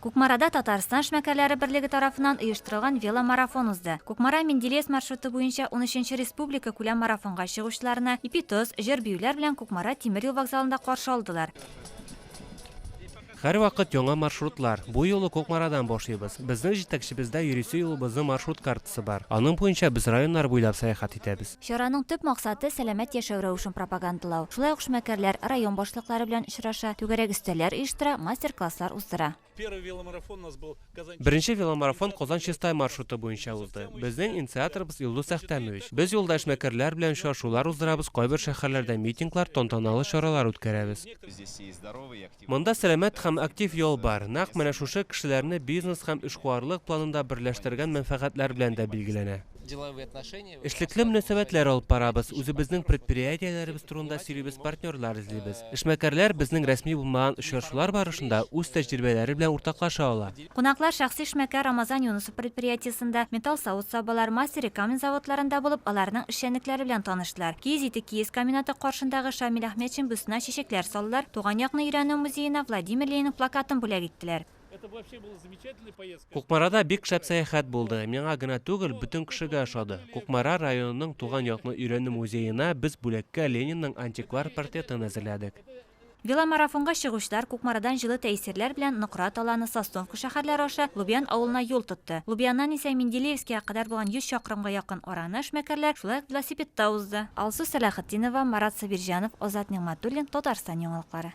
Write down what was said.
Кукмарада Татарстан эшмәкәрләре берлеге тарафыннан оештырылган веломарафон узды. Кукмара, Менделеевск маршруты буенча унөченче республикакүләм марафонга чыгучыларны ипи-тоз, җыр-биюләр белән Кукмара тимер юл вокзалында каршы алдылар. Һәрвакыт яңа маршрутлар. Бу юлы Кукмарадан башлыйбыз. Безнең җитәкчебездә йөрисе юлыбызның маршрут картасы бар. Аның буенча без районнар буйлап сәяхәт итәбез. Чараның төп максаты, сәламәт яшәү рәвешен пропагандалау. Шулай ук эшмәкәрләр район башлыклары белән очраша, түгәрәк өстәлләр оештыра, мастер-класслар уздыра. Беренче веломарафон Казан-Чистай маршруты буенча узды. Безнең инициаторыбыз Илдус Әхтәмович. Без юлда эшмәкәрләр белән очрашулар уздырабыз, кайбер шәһәрләрдә митинглар, тантаналы чаралар үткәрәбез. Монда сәламәт һәм актив ял бар, нәкъ менә шушы кешеләрне бизнес һәм эшкуарлык планында берләштергән мәнфәгатьләр белән дә билгеләнә. Эшлекле мөнәсәбәтләр алып барабыз, үзебезнең предприятиеләребез турында сөйлибез, партнерлар эзлибез. Эшмәкәрләр безнең рәсми булмаган очрашулар барышында үз тәҗрибәләре белән уртаклаша ала. Кунаклар шәхси эшмәкәр Рамазан Юнысов предприятиесендә, Металл савыт-сабалар, Мастер и камень заводларында булып, аларның эшчәнлекләре белән таныштылар. Киез ите киез комбинаты каршындагы Шамил Әхмәтшин бюстына чәчәкләр салдылар, Туган якны өйрәнү музеена Владимир Ленин плакатын бүләк иттеләр. Кукмарада бик шәп сәяхәт булды. Миңа гына түгел, бөтен кешегә ошады. Кукмара районының Туган якны өйрәнү музеена без бүләккә Ленинның антиквар портретын әзерләдек. Веломарафонга чыгучылар Кукмарадан җылы тәэсирләр белән Нократ аланы, Сосновка шәһәрләре аша Лубян авылына юл тотты. Лубяннан исә Менделеевскига кадәр булган 100 чакрымга якын араны эшмәкәрләр шулай ук велосипедта узды. Алсу Сәлахетдинова, Марат Сабирҗанов, Азат Нигъмәтуллин, Татарстан яңалыклары.